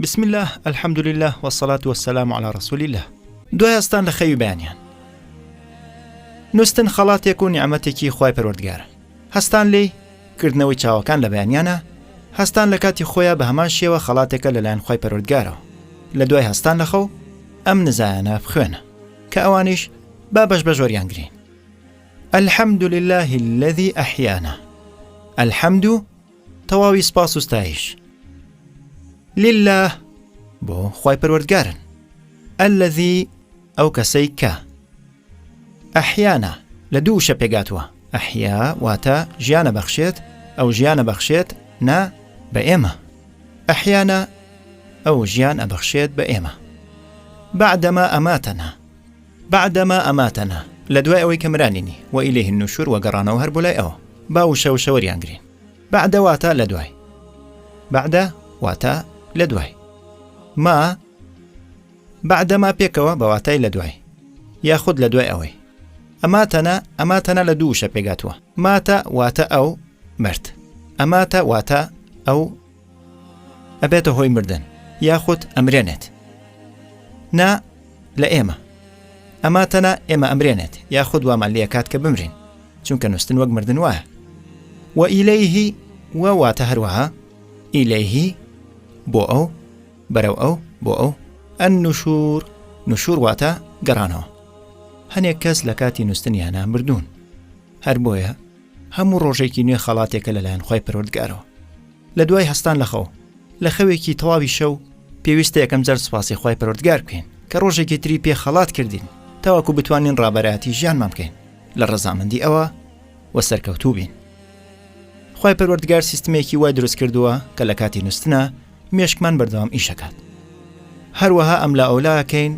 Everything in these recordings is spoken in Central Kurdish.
بسم اللە الحمد لله وسلات وسلام على رسول الله دوایستان لە خەوی بەیانیان نوستن خەڵاتێک و نیعممەتێکی خی پەروەردگارە هەستان لێی کردنەوەی چاوەکان لە بەیانیانە هەستان لە کاتی خۆیان بە هەمان شێوە خەڵاتێکە لەلایەن خی پەرۆردگارەوە لە دوای هەستان لەخەو ئەم نزایانە بخوێنە کە ئەوانیش با بەش بە ژۆریان گرین الحمد للە الذی احیانا الحمد تەواوی سپاس و ستایش للە بۆ خی پەروەردگارن الذی ئەو کەسەی کە ئەحیانا لە دوو شە پێگاتوە ئەحیا واتە ژیانە بەخشێت ئەو ژیانە بەخشێت نا بە ئێمە ئەحیانا ئەو ژیان ئەبەخشێت بە ئێمە بعدما ئەماتەنا بعدما اماتنا، لە دوای ئەوەی کە مرانینی، و الیه النشور وە گەڕانەوە هەر بۆ لای ئەوە. با وشە وشە وەریان گرین. بعد واتا لە دوای. بعد واتا لە دوای. ما بعدما پێکەوە بە واتای لە دوای. یاخود لە دوای ئەوەی. اماتنا، اماتنا لە دوو وشە پێکهاتووە. ماتە واتە ئەو مرد. اماتە واتە ئەو ئەبێتە هۆی مردن یاخود ئەمرێنێت نا لە ئێمە ئەما تەنا ئێمە ئەمرێنێت یاخود وامان لە کات کە بمرین چونکە نوستن وەک مردن وایە و ئیلەیهی وواتە هەروەها ئیلەیهی بۆ ئەو بەرەو ئەو بۆ ئەو ئەن نوشور نوشور واتە گەڕانەوە هەنێک کەس لە کاتی نوستنیانە مردوون هەر بۆیە هەموو ڕۆژێکی نوێ خەڵاتێکە لەلایەن خی پەرۆردگارەوە لە دوای هەستان لە خەو لە خەوێکی تەواوی شەو پێویستە یەکەم جار سوپاسی خی پەرۆردگار بکەین کە ڕۆژێکی تری پێ خەڵات کردین تاواکو بتوانین ڕابەراتی ژیانمان بکەین لە ڕەزامەندی ئەوە و سەرکەوتوو بین خی پەروەردگار سیستمێکی وای دروست کردووە کە لە کاتی نووسنا مێشکمان بەردەوام ئیشەکات هەروەها ئەم لا ئەولاکەین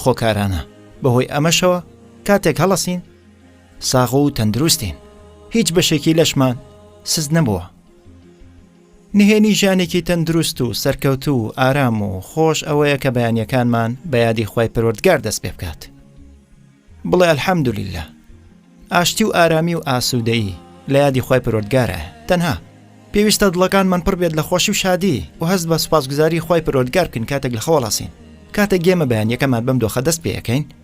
خۆکارانە بەهۆی ئەمەشەوە کاتێک هەڵەسین ساغ و تەندروستین هیچ بەشێکی لەشمان سست نەبووە. نهێنی ژیانێکی تەندروست و سەرکەوتو و ئارام و خۆش ئەوەیە کە بەیانیەکانمان بە یادی خی پەروەردگار دەست پێ بکات. بڵێ ئەلحەمدولیلا ئاشتی و ئارامی و ئاسوودەیی لە یادی خی پەروەردگارە تەنها پێویستە دڵەکانمان پڕ بێت لە خۆشی و شادی و هەست بە سوپاسگوزاری خی پەروەردگار بکەین کاتێک لە خەوەڵاسین کاتە گێمە بەیان یەکەمان بەم دۆخە دەست پێەکەین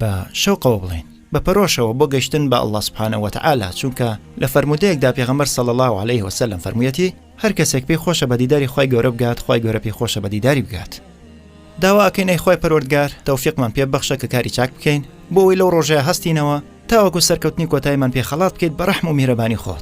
بە شەوقەوە بڵێین بە پەرۆشەوە بۆ گەشتن بە اللە سبحانە وتعالی چونکە لە فەرمودەیەکدا پێغەمبەر صلی اللە علیه وسلم فەرموویەتی هەر کەسێک پێی خۆشە بە دیداری خی گەورە بگات خی گەورە پێی خۆشە بە دیداری بگات داواکەین ئەی خۆی پەرۆردگار تەوفیقمان پێ بەخشە کە کاری چاک بکەین بۆ ئەوی لەو ڕۆژەیە هەستینەوە تاوەکو سەرکەوتنی کۆتایمان پێ خەڵات بکەیت بە ڕەحم و میرەبانی خۆت